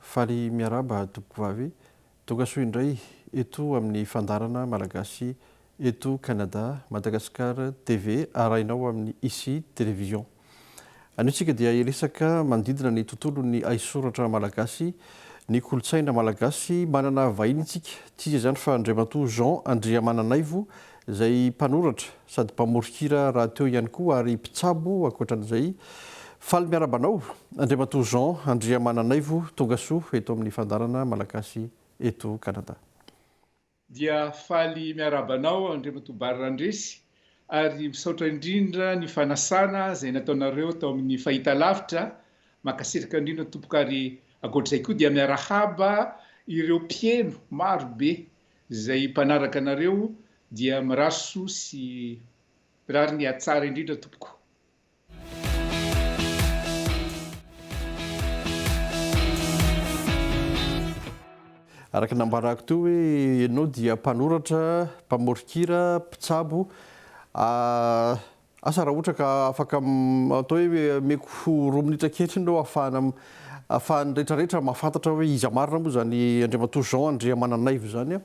Faly miarahaba tompokovavy tongasoa indray eto amin'ny fandaharana Malagasy eto Canada, Madagascar TV arahinao amin'ny Ici Télévision. Anio isika dia hiresaka manodidina ny tontolon'ny haisoratra malagasy, ny kolontsaina malagasy. Manana vahiny isika, tsy iza izany fa Andriamatoa Jean Andriamananaivo, izay mpanoratra sady mpamory hira rahateo ihany koa ary mpitsabo ankoatran'izay. Faly miarahaba anao Andriamatoa Jean Andriamananaivo, tonga soa eto amin'ny Fandaharana Malagasy eto Canada. Dia faly miarahaba anao Andriamatoa Bary Randresy ary misaotra indrindra ny fanasana izay nataonareo tao amin'ny fahitalavitra, mankasitraka indrindra tompoko ary ankoatr'izay koa dia miarahaba ireo mpiheno maro be Zay mpanaraka anareo dia mirary soa sy rariny hatsara indrindra tompoko. Araka ny nambarako teo hoe ianao dia mpanoratra, mpamoron-kira, mpitsabo, Asa raha ohatra ka afaka atao hoe omeko roa minitra ankehitriny ireo ahafahana ahafahan'ny retraretra mahafantatra hoe iza marina moa izany Andriamatoa Jean Andriamananaivo izany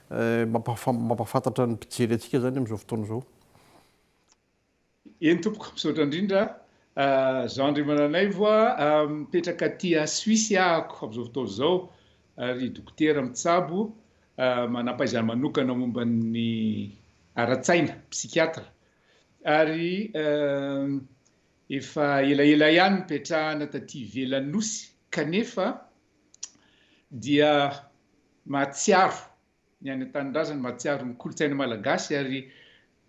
mampahafantatra ny mpijery antsika izany amin'izao fotoana izao. Eny tompoko, misaotra indrindra Jean Andriamananaivo a, mipetraka aty a Suisse ahako amin'izao fotoana izao ary dokotera mitsabo, manam-pahaizana manokana momba ny ara-tsaina, psychiatre, Ary efa elaela ihany nipetrahana taty ivelan'ny Nosy kanefa dia mahatsiaro ny any an-tanindrazany, mahatsiaro ny kolontsaina malagasy ary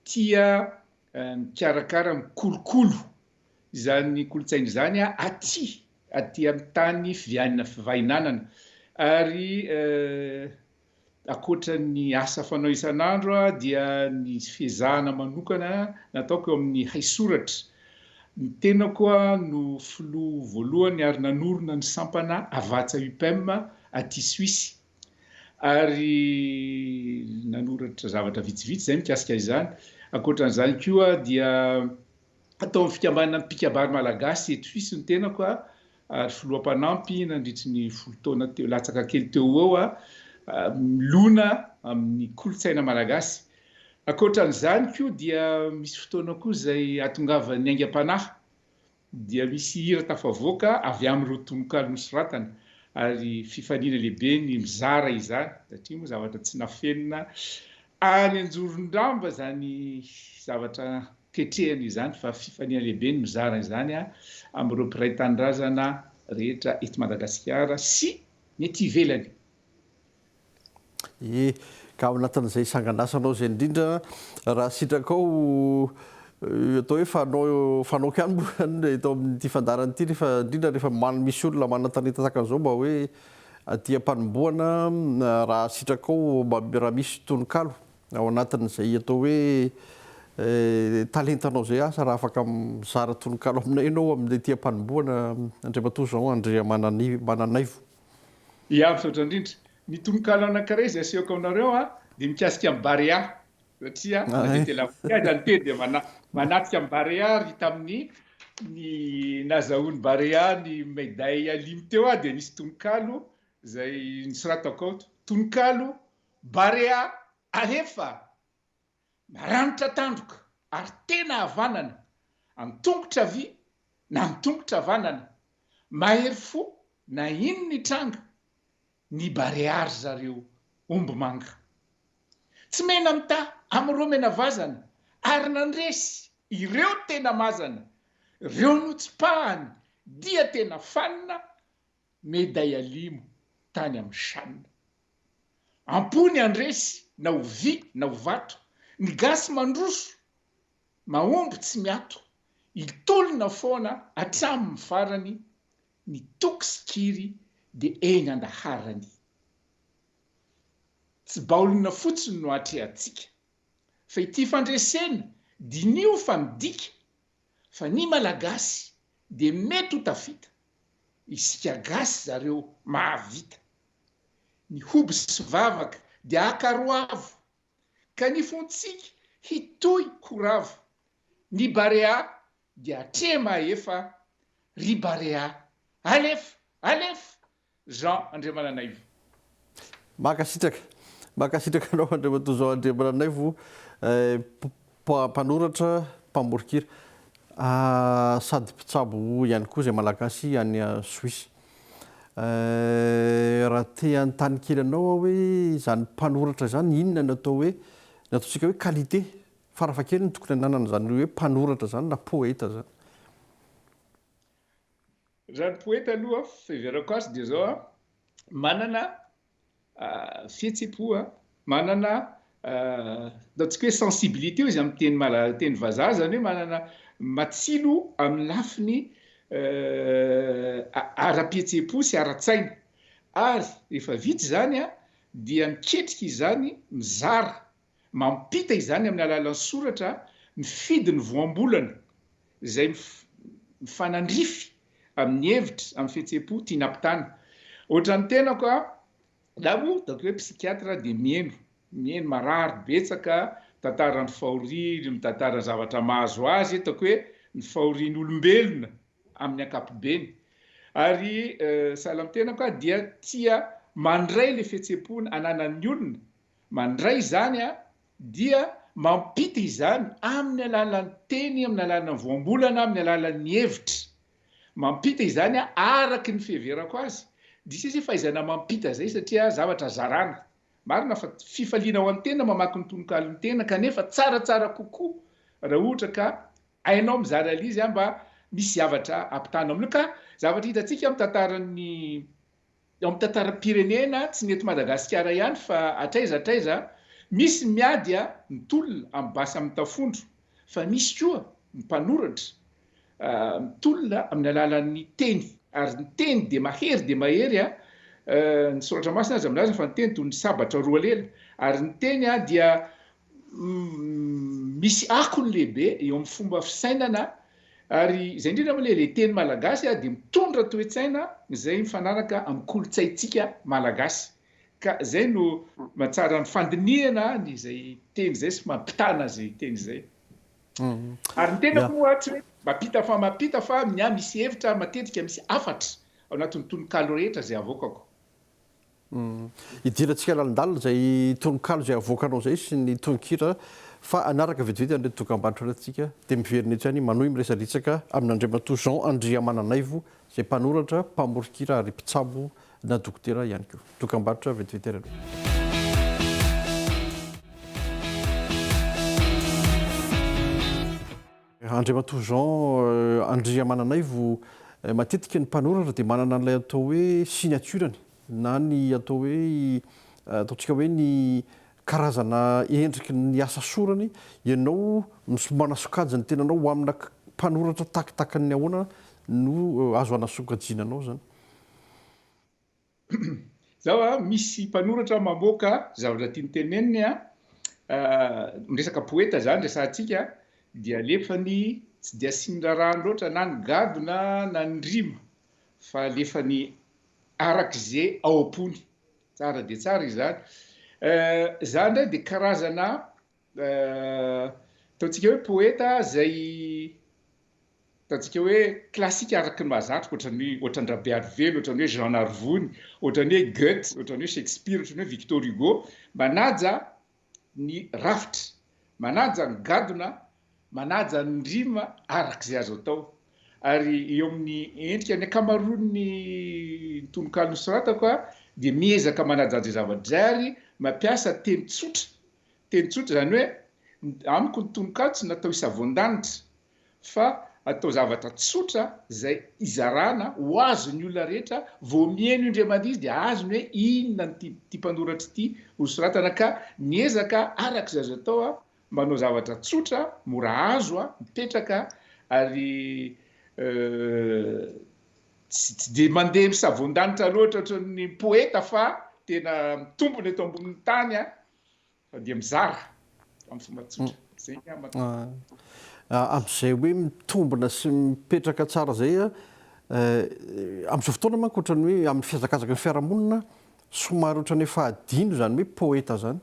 tia mikarakara, mikolokolo izany kolontsaina izany aty, aty amin'ny tany fivianana, fivahinanana. Ary Ankoatra ny asa fanao isan'andro dia ny fiezahana manokana nataoko eo amin'ny haisoratra. Ny tenako no filoha voalohany ary nanorina ny sampana Havatsa Upem aty Suisse ary nanoratra zavatra vitsivitsy izay mikasika izany. Ankoatra an'izany koa dia. ataon'ny fikambanana Mpikabary Malagasy eto Suisse ny tenako ary filoha mpanampy nandritry ny folo taona teo latsaka kely teo ho eo milona amin'ny kolontsaina malagasy. Ankoatra an'izany koa dia misy fotoana koa izay atongavan'ny aingam-panahy dia misy hira tafavoaka avy amin'ireo tononkalo nosoratana ary fifaniana lehibe ny mizara izany satria moa zavatra tsy nafenina Any Anjorondrava izany zavatra ketrehina izany fa fifaliana lehibe ny mizara izany amin'ireo mpiray tanindrazana rehetra eto Madagasikara sy ny ety ivelany. Ie, ka ao anatin'izay sangan'asanao izay indrindra raha sitrakao ho atao hoe fanao fanaoko ihany moa izany eto amin'ity fandaharana ity rehefa indrindra rehefa misy olona manan-talenta tahaka an'izao mba hoe Aty am-panombohana, raha sitrakao raha misy tononkalo ao anatin'izay atao hoe talentanao izay asa raha afaka mizara tononkalo aminay ianao amin'ny aty am-panombohana Andriamatoa Jean Andriamananaivo. Ia, misaotra indrindra. Ny tononkalo anankiray izay asehoko aminareo dia mikasika an'i Barea. Satria na dia tena voky aza ny teny dia manatrika amin'i Barea ary tamin'ny ny nazahoan'i Barea ny Médaille Alim teo aho dia nisy tononkalo izay nosoratako ao, tononkalo Barea alefa, maranitra tandroka ary tena havanana, an-tongotra havia na an-tongotra havanana, mahery fo na inona hitranga, ny barea ry zareo omby manga tsy mena mita amin'ireo mena vazana ary nandresy ireo tena mazana reo notsipahany dia tena fanina meday alimo tany amin'ny chan ampony andresy na ho vy na ho vato ny gasy mandroso mahomby tsy miato hitolona foana hatramin'ny farany Ny toky sy kiry dia eny andaharany. Tsy baolina fotsiny no atrehantsika fa ity fandresena, diniho fa midika fa ny Malagasy dia mety ho tafita, isika gasy zareo mahavita. Ny hoby sy vavaka dia akaroavo ka ny fontsika hitohy ho ravo Ny Barea dia atrehy mahefa ry Barea alefa alefa Jean Andriamananaivo. Mankasitraka. Mankasitraka anao Andriamatoa Jean Andriamananaivo eh, mpanoratra, mpamoron-kira sady mpitsabo ihany koa izay Malagasy any Suisse. Eh, raha te hanontany kely anao aho hoe izany mpanoratra izany inona no atao hoe, ny ataontsika hoe qualité Farafahakeliny tokony hananana izany hoe mpanoratra izany na poeta izany. Raha ny poeta aloha fiheverako azy dia izao an, manana fihetsem-po, manana ataontsika hoe sensibilité hoy izy amin'ny teny mala- teny vazaha, izany hoe manana matsilo amin'ny lafiny ara-pihetsem-po sy ara-tsaina. Ary rehefa vita izany an, dia miketrika izany mizara Mampita izany amin'ny alalan'ny soratra mifidy ny voambolana izay mifanandrify amin'ny hevitra, amin'ny fihetseham-po tiany hampitana. Ohatran'ny tenako aho, izaho moa ataoko hoe psychiatre dia mihaino, mihaino marary betsaka, mitantara ny fahoriany, mitantara zavatra mahazo azy, ataoko hoe ny fahorian'ny olombelona amin'ny ankapobeny. Ary sahala amin'ny tenako aho dia tia mandray ilay fihetseham-po ananan'ny olona Mandray izany aho dia mampita izany amin'ny alalan'ny teny, amin'ny alalan'ny voambolana, amin'ny alalan'ny hevitra. Mampita izany aho araka ny fiheverako azy. Diso izy fahaizana mampita izay satria zavatra zarana. Marina fa fifaliana ho an'ny tena ny mamaky ny tononkalon'ny tena kanefa tsaratsara kokoa raha ohatra ka hainao mizara an'izy mba misy zavatra ampitanao amin'io ka zavatra hitantsika amin'ny tantaran'ny Eo amin'ny tantaram-pirenena, tsy ny eto Madagasikara ihany fa hatraiza hatraiza, misy ny miady a, ny tolona amin'ny basy amin'ny tafondro, fa misy koa ny mpanoratra mitolona amin'ny alalan'ny teny, ary ny teny dia mahery dia mahery a, ny Soratra Masina aza milaza fa ny teny toy ny sabatra roa lela, ary ny teny dia misy akony lehibe eo amin'ny fomba fisainana ary izay indrindra moa ilay teny malagasy dia mitondra toe-tsaina izay mifanaraka amin'ny kolontsaintsika malagasy ka izay no mahatsara ny fandinihana an'izay teny izay sy mampitana izay teny izay. Mm. Ary ny tena moa tsy hoe mampita fa mampita fa ny ahy misy hevitra matetika misy hafatra ao anatin'ny tononkalo rehetra izay avoakako. Idirantsika lalindalina izay tononkalo izay avoakanao izay sy ny tononkira fa hanaraka vetivety an'ireto dokambarotra ireto isika dia miverina etsy any manohy miresadretsaka amin'Andriamatoa Jean Andriamananaivo izay mpanoratra, mpamoron-kira ary mpitsabo na dokotera ihany koa. Dokambarotra vetivety ary aloha. Andriamatoa Jean Andriamananaivo, Matetika ny mpanoratra dia manana an'ilay atao hoe signature-ny na ny atao hoe ataontsika hoe ny karazana endriky ny asa sorany. Ianao misy manasokajy ny tenanao ho amina mpanoratra takitakin'ny ahoana no azo anasokajiana anao izany? Zao a, misy mpanoratra mamoaka zavatra tiany teneniny a, miresaka poeta zany resahantsika, dia alefany tsy dia asiany rarahany loatra na ny gadona na ny rima fa alefany arak'ze ao am-pony. Tsara dia tsara izany. Za ndray dia karazana Ataontsika hoe poeta izay ataontsika hoe klasika araka ny mahazatra, ohatran'ny hoe ohatran-dRabearivelo, ohatran'ny hoe Jean Narivony, ohatran'ny hoe Goethe, ohatran'ny hoe Shakespeare, ohatran'ny hoe Victor Hugo, manaja ny rafitra, manaja ny gadona, manaja ny rima araka izay azo atao. Ary eo amin'ny endrika ny ankamaroan'ny tononkalo nosoratako dia miezaka manaja an'izay zava-drery, mampiasa teny tsotra Teny tsotra izany hoe, amiko ny tononkalo tsy natao hisavoan-danitra fa atao zavatra tsotra izay izarana ho azon'ny olona rehetra, vao miheno indray mandeha izy dia azony hoe inona no tian'ity mpanoratra ity ho soratana ka miezaka araka izay azo atao manao zavatra tsotra, mora azo, mipetraka ary Tsy dia mandeha misavoan-danitra loatra ohatran'ny ny poeta fa tena mitombina eto ambonin'ny tany an! Fa dia mizara amin'ny fomba tsotra. Izay ny ahy matoa. Amin'izay hoe mitombina sy mipetraka tsara izay an, amin'izao fotoana manko ohatran'ny hoe amin'ny fihazakazaka ny fiarahamonina somary ohatran'ny efa adino izany hoe poeta izany.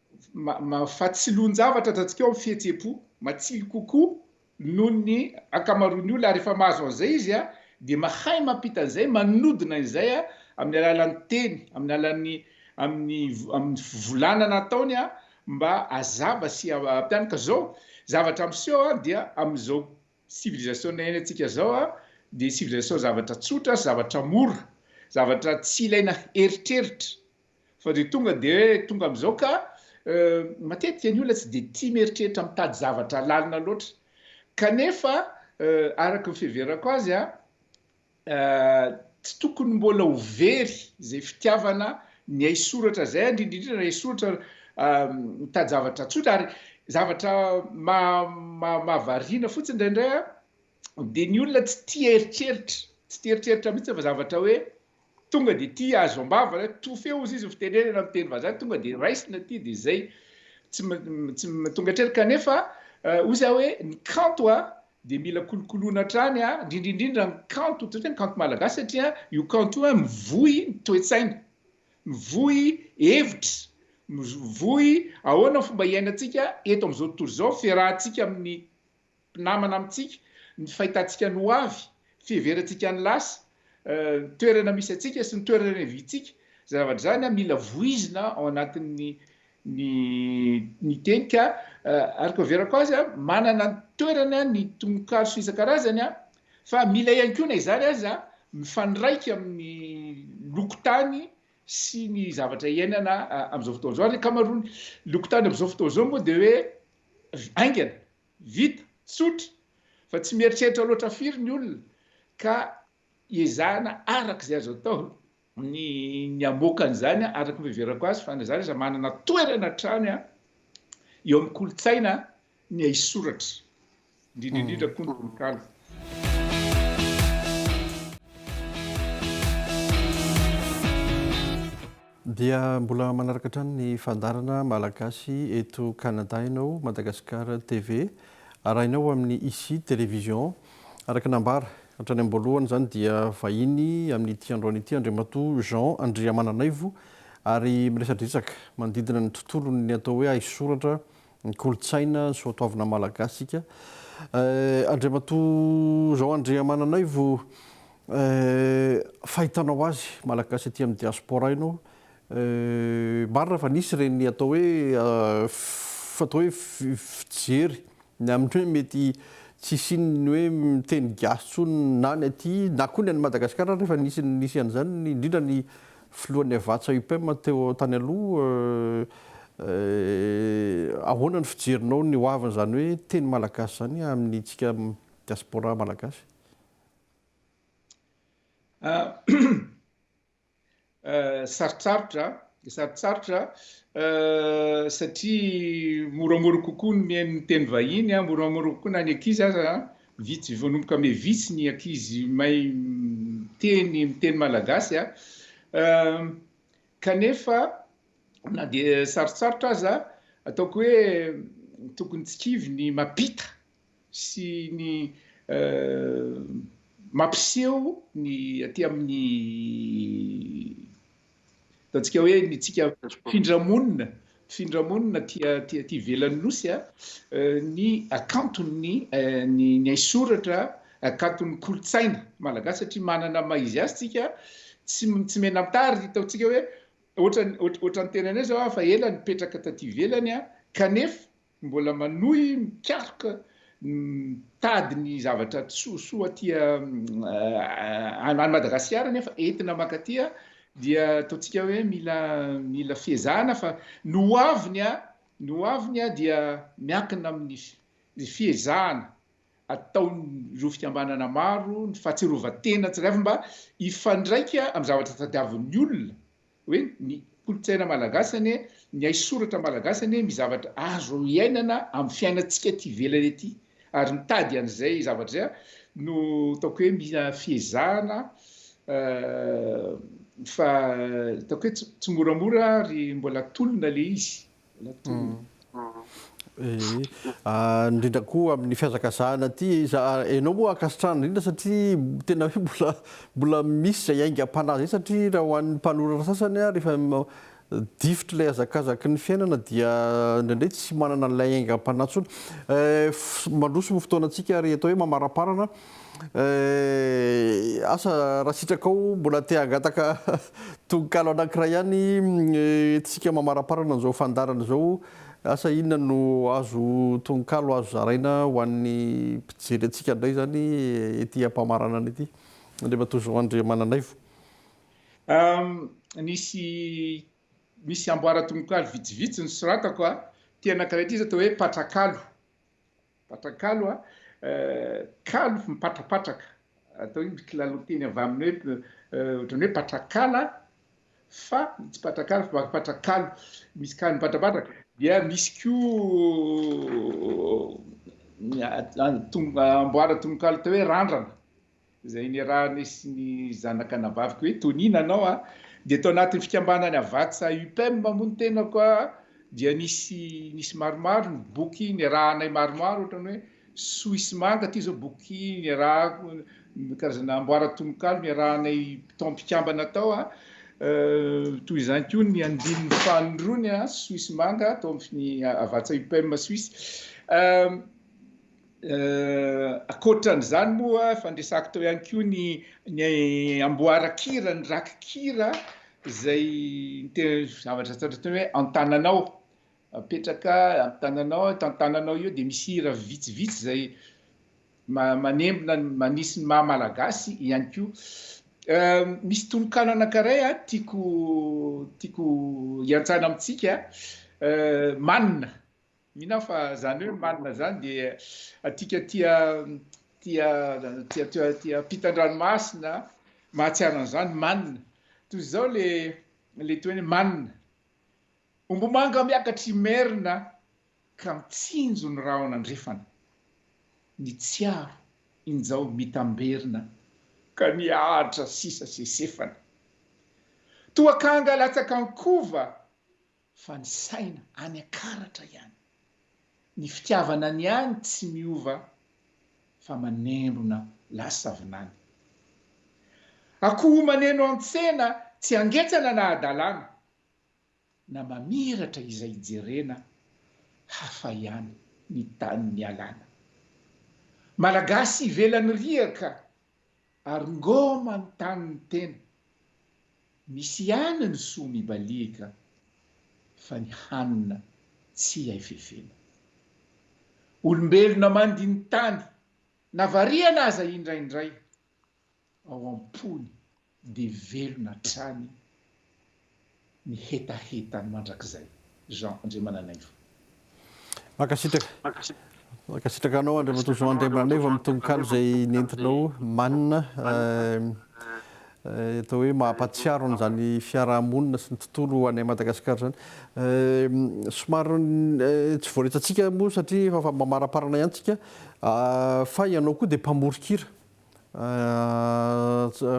Mahafatsiloan-javatra atratsika ao ny fihetseham-po. Matsilo kokoa noho ny ankamaroan'ny olona, ary rehefa mahazo an'izay izy dia mahay mampita an'izay, manodina izay amin'ny alalan'ny teny, amin'ny alalan'ny amin'ny amin'ny fivolanana ataony mba hazava sy hampianaka. Izao zavatra miseho dia amin'izao civilisation-na iainantsika izao dia civilisation zavatra tsotra sy zavatra mora, zavatra tsy ilaina eritreritra. Fa dia tonga dia hoe tonga amin'izao ka matetika ny olona tsy dia tia mieritreritra mitady zavatra lalina loatra. Kanefa araka ny fiheverako azy tsy tokony mbola ho very izay fitiavana ny haisoratra izay, indrindra ny haisoratra mitady zavatra tsotra. Ary zavatra mahavariana fotsiny indraindray dia ny olona tsy tia eritreritra, tsy tia eritreritra mihitsy fa zavatra hoe Tonga dia tia azo am-bava ilay to feo hozy izy fitenenana amin'ny teny vazaha tonga dia raisina aty dia izay tsy tsy tonga hatrany kanefa hozy aho hoe ny kanto a dia mila kolokoloina hatrany a indrindra indrindra ny kanto toy ny kanto malagasy satria io kanto io a mivoy ny toe-tsaina mivoy hevitra mivoy ahoana ny fomba iainantsika eto amin'izao tontolo izao fiarahantsika amin'ny mpinamana amintsika, ny fahitantsika ny ho avy, fiheverantsika ny lasa, ny toerana misy antsika sy ny toerana niaviantsika. Izany zavatra izany mila voizina ao anatin'ny ny ny teny ka ary ko averako azy manana ny toerany ny tononkalo sy isan-karazany fa mila ihany koa na izany aza mifandraika amin'ny lokotany sy ny zavatra iainana amin'izao fotoana izao ary ny ankamaroan'ny lokotany amin'izao fotoana izao moa dia hoe ry haingana, vita, tsotra, fa tsy mieritreritra loatra firy ny olona ka ezahana araka izay azo atao ny ny hamoaka an'izany araka ny fiheverako azy fa na izany aza manana toerana hatrany eo amin'ny kolontsaina ny haisoratra. indrindra indrindra koa ny tononkalo. Dia mbola manaraka hatrany ny fandarana malagasy eto Canada ianao, Madagascar TV, arahinao amin'ny Ici Télévision. Araka nambara hatrany am-boalohany izany dia vahiny amin'ity androany ity Andriamatoa Jean Andriamananaivo ary miresadresaka manodidina ny tontolon'ny atao hoe haisoratra Ny kolontsaina ny soatoavina malagasy ika eh, Andriamatoa Zao Andriamananaivo eh, fahitanao azy malagasy aty amin'ny diaspora ianao eh, marina fa nisy ireny atao hoe eh, atao hoe fijery ny amin'ny hoe mety tsy hisian'ny hoe miteny gasy intsony na ny aty na koa ny an'i Madagasikara ary efa nisy nisy an'izany indrindra ny Filohan'ny Havàtsa Upem teo tany aloha, eh, ahoana ny fijerinao ny hoavin'izany hoe teny malagasy izany amintsika diaspora malagasy? Sarotsarotra, sarotsarotra satria moramora kokoa ny mihaino ny teny vahiny, moramora kokoa na ny ankizy aza Vitsy vao nomboka me vitsy ny ankizy mahay miteny miteny malagasy a! kanefa na dia sarotsarotra aza ataoko hoe tokony tsy kivy ny mampita sy ny mampiseho ny aty amin'ny Hitantsika hoe ny tsika findramonina, findramonina aty aty aty ivelan'ny nosy a, ny hakanton'ny ny haisoratra, hakanton'ny kolontsaina malagasy satria manana ny maha izy azy tsika, tsy tsy mena-mitary, hitaontsika hoe ohatran'ny ohatran'ny tenanay zao aho fa ela nipetraka taty ivelany a, kanefa Mbola manohy mikaroka ny mitady ny zavatra tsosoa aty any Madagasikara nefa entina mankaty dia ataontsika hoe mila mila fiezahana fa ny ho aviny ny ho aviny dia miankina amin'ny fiezahana ataon'ireo fikambanana maro ny fahatsiarovan-tena tsirairay mba hifandraika amin'ny zavatra tadiavin'ny olona hoe ny kolontsaina malagasy anie, ny haisoratra malagasy anie misy zavatra azo iainana amin'ny fiainantsika aty ivelany aty ary mitady an'izay zavatra izay no ataoko hoe mila fiezahana fa ataoko hoe tsy moramora ary mbola tolona ilay izy. indrindra koa amin'ny fihazakazahana aty za enao moa ankasitrahana indrindra satria tena hoe mbola mbola misy izay aingam-panahy izay satria raha ho an'ny mpanoratra sasany a rehefa difotry ilay hazakazaky ny fiainana dia indraindray tsy manana an'ilay aingam-panahy intsony mandroso ny fotoana antsika ary atao hoe mamaraparana Eh, asa raha sitrakao mbola te hangataka tononkalo anankiray ihany tsika mamaramparana an'izao fandarana izao, asa inona no azo tononkalo azo zaraina ho an'ny mpijery antsika indray izany ety am-pamaranana ety? Andriamatoa Jean Andriamananaivo. Nisy misy amboara-tononkalo vitsivitsy nosoratako, teny anankiray ity izao atao hoe Patrakalo. Mpatrakalo a, kalo mipatrapatraka, atao hoe kilalo teny avy amin'ny hoe ohatran'ny hoe patrakala fa tsy patrakala fa patrakalo, misy kalo mipatrapatraka. Dia misy koa amboara tononkalo atao hoe randrana. izay niarahany sy ny zanak'anabaviko hoe Tony nanao an, dia tao anatin'ny fikambanan'ny Avàtsa Upem moa ny tenako an, dia nisy nisy maromaro ny boky niarahanay maromaro ohatra ny hoe Soa sy Manga ity izao boky niarahako karazana amboaran-tononkalo niarahanay tao am-pikambana tao an, toy izany koa ny andininy faninrony an, Soa sy Manga tao amin'ny Avàtsa Upem Suisse. Ankoatran'izany moa, fandresako teo ihany koa ny ny amboaran-kira, ny rakikira izay zavatra atao hoe an-tananao, apetraka an-tananao, eto an-tananao io dia misy hira vitsivitsy izay manembona ny manisy ny maha malagasy ihany koa. Misy tononkalo anankiray tiako tiako hiantsana amintsika, Manina. Mino aho fa zany hoe manina zany dia atika tia tia tia tia tia ampitan-dranomasina mahatsiaro an'izany manina. Toy izao le le toy ny manina. Ombomanga miakatra imerina ka mitsinjo ny rahona andrefana. Ny tsiaro injao mitamberina ka nihatra sisa sesefana. Toa kanga latsaka an-kova Fa ny saina any akaratra ihany. Ny fitiavana ny any tsy miova fa manembona lasa vinany. Akoho maneno an-tsena tsy angetsana na adalana, na mamiratra izay jerena, hafa ihany ny tany nialana. Malagasy ivelan'ny riaka Ary ngo manontany ny tena. Misy ihany ny soa mibaliaka fa ny hanina tsy hay fefena. Olombelona mandini-tany na variana aza indraindray ao am-pony dia velona hatrany ny hetahetany mandrakizay. Jean Andriamananaivo. Mankasitraka. Mankasitraka anao Andriamatoa Jean Andriamananaivo amin'ny tononkalo izay nentinao manina atao hoe mahampatsiaro an'izany fiaraha-monina sy ny tontolo any Madagasikara izany. Somary tsy voaretantsika moa satria efa mamaramparana ihany tsika fa ianao koa dia mpamorikira.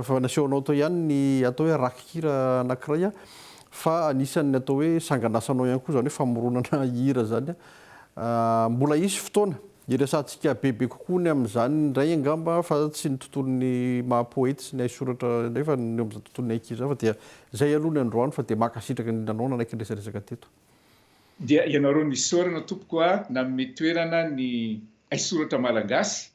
Efa nasehonao tao ihany ny atao hoe rakikira anankiray fa anisan'ny atao hoe sanganasanao ihany koa izany hoe famoronana hira izany. Mbola hisy fotoana hiresahantsika bebe kokoa ny amin'izany indray angamba fa tsy ny tontolon'ny maha poety sy ny haisoratra indray fa ny eo amin'izany tontolon'ny ankizy izany fa dia izay aloha ny androany fa dia mankasitraka indrindra anao nanaiky niresadresaka teto. Dia ianareo no isaorana tompoko a, nanome toerana ny haisoratra malagasy